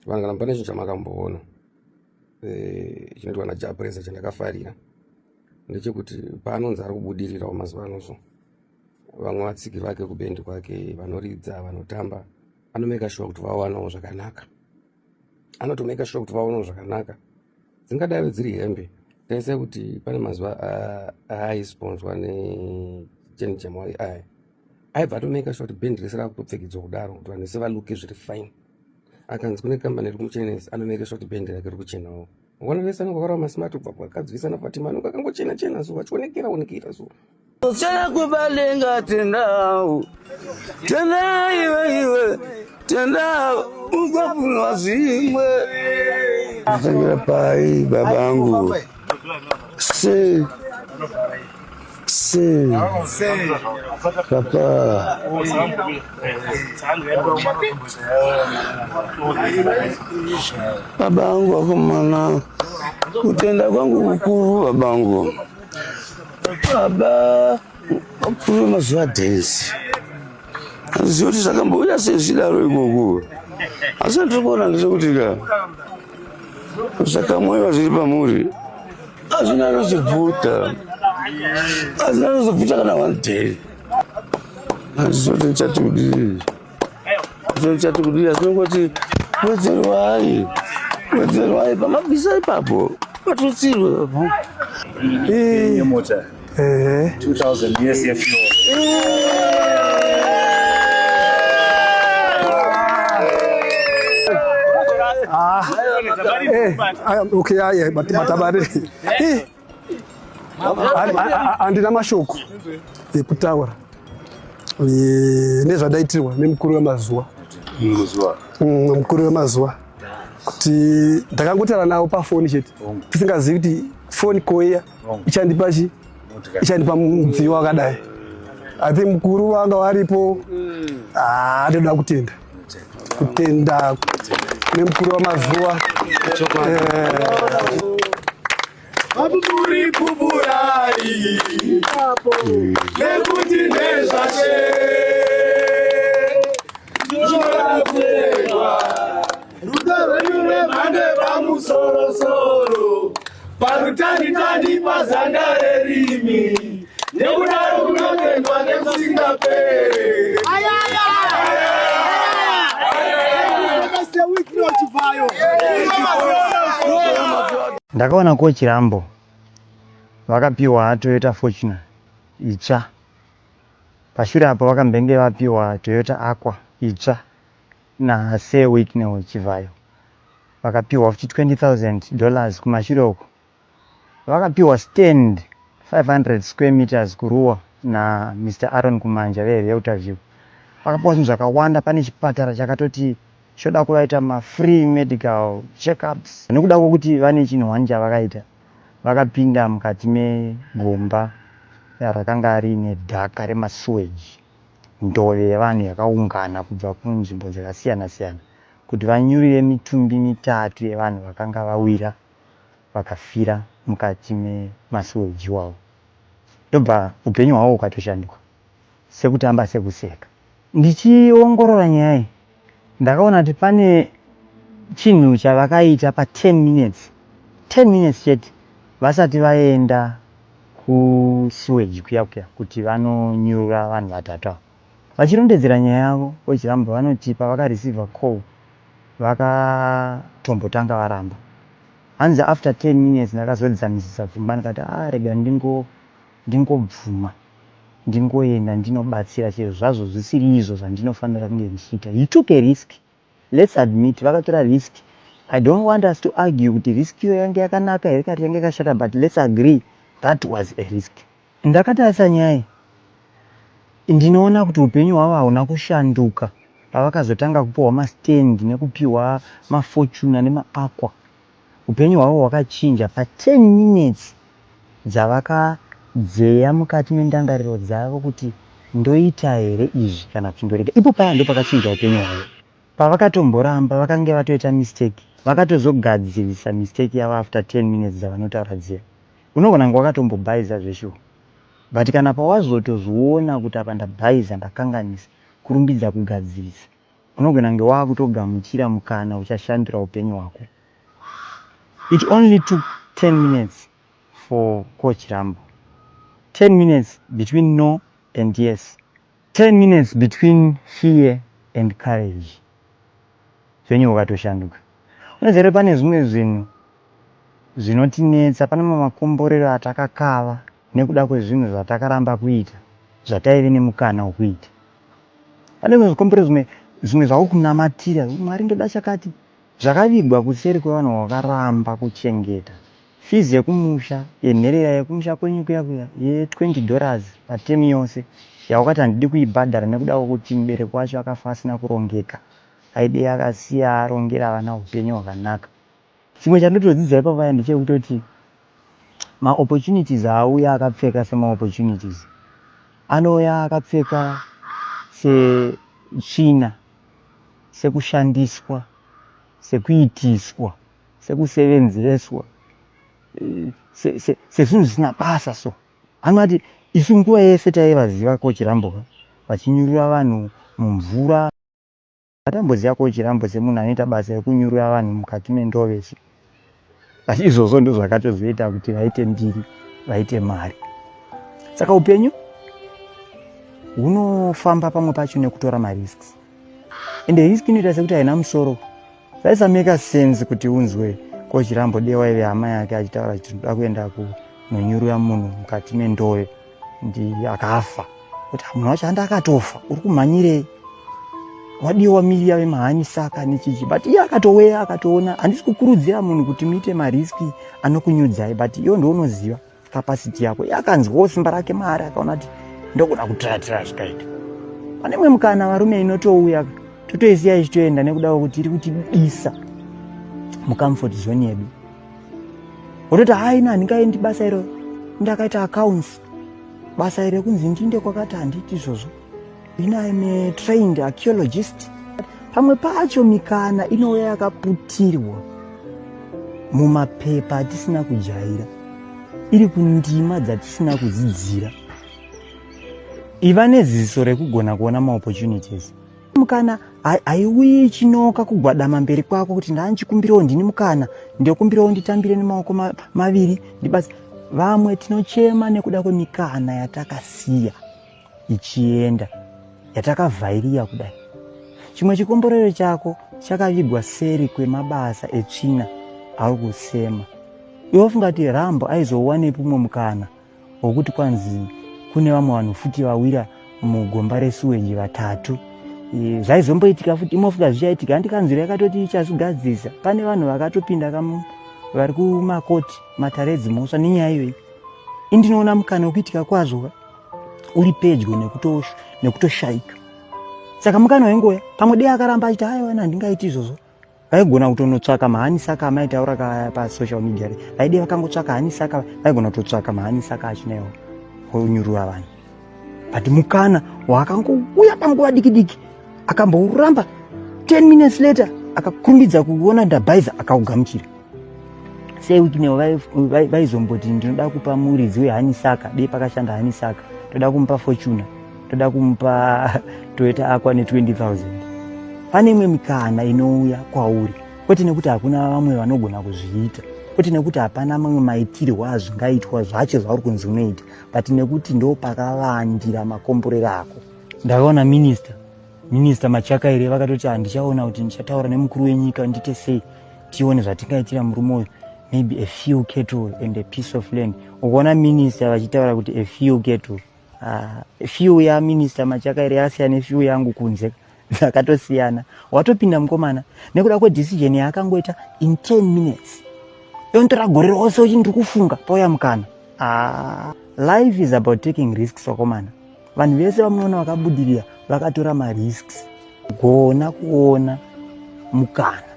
vanhu kana pane chinhu chamakamboona eh, chinoitwa najapresa chandakafarira ndechekuti paanonzi ari kubudirirawo mazuva ano so vamwe vatsiki vake kubendi kwake vanoridza vanotamba anomeka shuwa kuti vawanawo zvakanaka anotomeka shuwa kuti vawanawo zvakanaka dzingadaive dziri hembe taisa kuti pane mazuva aaisponswa necheni chemwari aya aibva atomaker sure kuti band rese rakutopfekedzwa kudaro kuti vanhu vese valuke zviri fine akanzi kune kambani iri kumuchenesa anomaker sure kuti band rake ri kuchenawo vana vese anenge vakarawa masmart kubva kwakadzivisa nafatima anenge akangochena chena so vachionekera onekera so kuchena kwebalenga tendawo tenda iwe iwe tenda ukapunwa zvimwe zvitangira pai babangu Se. Se. Papa. Babangu wakomana, kutenda kwangu kukuru babangu. Baba, wapuwe mazuva dance. handizivi kuti zvakambouya sei zvichidaro ikoko asi andiri kuona ndezvekuti ka zvakamwewa zviri pamuri hazvina anozobvuta hazvina anozobvuta kana one day handizivi kuti ndichati kudii ndichati kudii asi nongoti wedzerwai wedzerwai pamabvisa ipapo patutsirwe papo ehe 2000 years yefu Ah, eh, ah, okay, ah, yeah, but matabare. Eh, ah, ah, ah, handina mashoko ekutaura eh, nezvadaitirwa nemukuru wemazuva muzuva Mm, mukuru wemazuva kuti ndakangotaura navo pafoni chete tisingazivi kuti foni koiya ichandipa chi ichandipa mudziyo wakadai i think mukuru vanga varipo ah, toda kutenda kutenda nemukuru wamazuva vapupuri pupurai nekuti nezvashe Rudo rwenyu rwemhando yepamusorosoro parutanitani pazanda rerimi nekudaro kunotendwa nekusingapere ndakaona ko chirambo vakapiwa toyota fortuna itsva pashure apo vakambenge vapiwa toyota aqua itsva Na Sir Wicknell Chivhayo vakapihwa futi 20,000 dollars kumashure uko vakapihwa stand 500 square meters kuRuwa na Mister Aaron Kumanja ve Realtor View. Vakapiwa zvinhu zvakawanda pane chipatara chakatoti choda kuvaita ma free medical check ups nekuda kwekuti vane chinhu hwani chavakaita vakapinda mukati megomba rakanga riine dhaka rema sewage. Ndove yevanhu yakaungana kubva kunzvimbo dzakasiyana siyana kuti vanyurire mitumbi mitatu yevanhu vakanga vawira vakafira mukati memasuweji iwawo ndobva upenyu hwavo hukatoshanduka sekutamba sekuseka. Ndichiongorora nyaya iyi Ndakaona kuti pane chinhu chavakaita pa 10 minutes 10 minutes chete vasati vaenda ku sewage kuya kuya kuti vanonyurura vanhu vatatu ava. Vachirondedzera nyaya yavo VaChirambwa vanoti pavaka receiver call vakatombotanga varamba. Hanzi after 10 minutes ndakazodzamisisa pfungwa ndikati haa rega ndingo ndingobvuma. ndingoenda ndinobatsira chero zvazvo zvisiri izvo zvandinofanira kunge ndichiita. He took a risk let's admit vakatora risk I don't want us to argue kuti risk iyo yange yakanaka here kati yange yakashata but let's agree that was a risk. Ndakatarisa Nhai ndinoona kuti hupenyu hwavo hauna kushanduka pavakazotanga kupiwa mastand nekupiwa mafortuner nemaaqua Upenyu hwavo hwakachinja pa 10 minutes dzavakadzeya mukati mendangariro dzavo kuti ndoita here izvi kana kuti ndorega. Ipo paya ndopakachinja upenyu hwavo. Pavakatomboramba vakange vatoita mistake vakatozogadzirisa mistake yavo after 10 minutes dzavanotaura dziya. Unogona kunge wakatombobhaiza zveshuwa but kana pawazotozviona kuti apa ndabhaiza ndakanganisa kurumbidza kugadzirisa. Unogona kunge wava kutogamuchira mukana uchashandura upenyu hwako. It only took ten minutes for Coach Rambo. Ten minutes between no and yes. Ten minutes between fear and courage. Upenyu hwakatoshanduka. Unoziva here pane zvimwe zvinhu zvinotinetsa, pane mamwe makomborero atakakava. nekuda kwezvinhu zvatakaramba kuita zvataive nemukana wekuita. Pane zvimwe zvikombero zvimwe zvimwe zvaukunamatira kuti Mwari ndoda chakati zvakavigwa kuseri kwevanhu vakaramba kuchengeta fees yekumusha yenherera yekumusha kwenyu kuya kuya ye 20 dollars pa term yose yawakati handidi kuibhadhara nekuda kwekuti mubereki wacho akafa asina kurongeka aidei akasiya arongera vana hupenyu hwakanaka. Chimwe chandotodzidza ipapaya ndechekutoti ma opportunities haauya akapfeka sema opportunities anouya akapfeka setsvina sekushandiswa sekuitiswa sekusevenzeswa sezvinhu zvisina basa so anoti isu nguva yese taivaziva ko chirambo vachinyurura vanhu mumvura Ndakamboziva ko chirambo semunhu anoita basa rekunyurura vanhu mukati mendove cy but izvozvo ndozvakatozoita kuti vaite mbiri vaite mari saka upenyu hunofamba pamwe pacho nekutora marisks and risk inoita sekuti haina musoro zvaisameka sense kuti unzwe ko chirambo dewa ive hama yake achitaura kuti tinoda kuenda kunonyurura munhu mukati mendove ndiye akafa kuti munhu wacho andi akatofa uri kumhanyirei wadiwa wamiria vemahani saka nechiji but iye akatoweya akatoona handisi kukurudzira munhu kuti muite mariski anokunyudzai but iyo ndounoziva capacity yako iye akanzwawo simba rake maari akaona kuti ndokuda kutiratira zvikaita pane mwe mukana varume inotouya totoisiya ichitoenda nekuda kwekuti iri kutidisa mucomfort zone yedu wototi hayi na handingaendi basa iro ndakaita accounts basa iro kunzi ndiinde kwakati handiti izvozvo ini im a trained archaeologist pamwe pacho mikana inouya yakaputirwa mumapepa atisina kujaira iri kundima dzatisina kudzidzira iva neziso rekugona kuona maopportunities mukana haiuyi chinoka kugwadama mberi kwako kuti ndanchikumbirawo ndini mukana ndokumbirawo nditambire nemaoko maviri ndibasi vamwe tinochema nekuda kwemikana yatakasiya ichienda yatakavhairiya kudai chimwe chikomborero chako chakavigwa seri kwemabasa etsvina auri kusema iwe ufunga kuti rambo aizowanepi umwe mukana hwekuti kwanzi kune vamwe vanhu futi vawira mugomba resuweji vatatu e, zvaizomboitika futi imofuka zvichaitika handi kanzuro yakatoti ichazvigadzirisa pane vanhu vakatopinda kamu vari kumakoti matare edzimhosva nenyaya iyoyi indinoona mukana wekuitika kwazvo uri pedyo nekutoshaika saka mukana wengoya pamwe dei akaramba achiti aiwa handingaiti izvozvo vaigona kutonotsvaka mahanisi aka amaitaura ka pasocial media re vaide vakangotsvaka hanisi aka vaigona kutotsvaka mahanisi aka achinawo onyurura vanhu but mukana waakangouya panguva diki diki akambouramba 10 minutes later akakurumbidza kuona ndabhaiza akaugamuchira sei wikinewo vaizomboti ndinoda kupa muridzi wehanisaka dei pakashanda hanisaka ndoda kumupa fortuna toda kumupa toyota akwa ne 20000 pane imwe mikana inouya kwauri kwete nekuti hakuna vamwe vanogona kuzviita kwete nekuti hapana mamwe maitirwo azvingaitwa zvacho zvauri kunzi unoita but nekuti ndo pakavandira makomborero ako ndakaona minista minista machakaire vakatoti handichaona kuti ndichataura nemukuru wenyika ndiite sei tione zvatingaitira murume uyu maybe a few cattle and a piece of land ukuona minista vachitaura kuti a few cattle Ah, few ya minister machaka iri asiyana few yangu kunze akatosiyana watopinda mukomana nekuda kwedecision yaakangoita in 10 minutes yontora gore rose uchi ndiri kufunga pauya mukana ah, life is about taking risks wakomana vanhu vese vamunoona vakabudirira vakatora marisks gona kuona mukana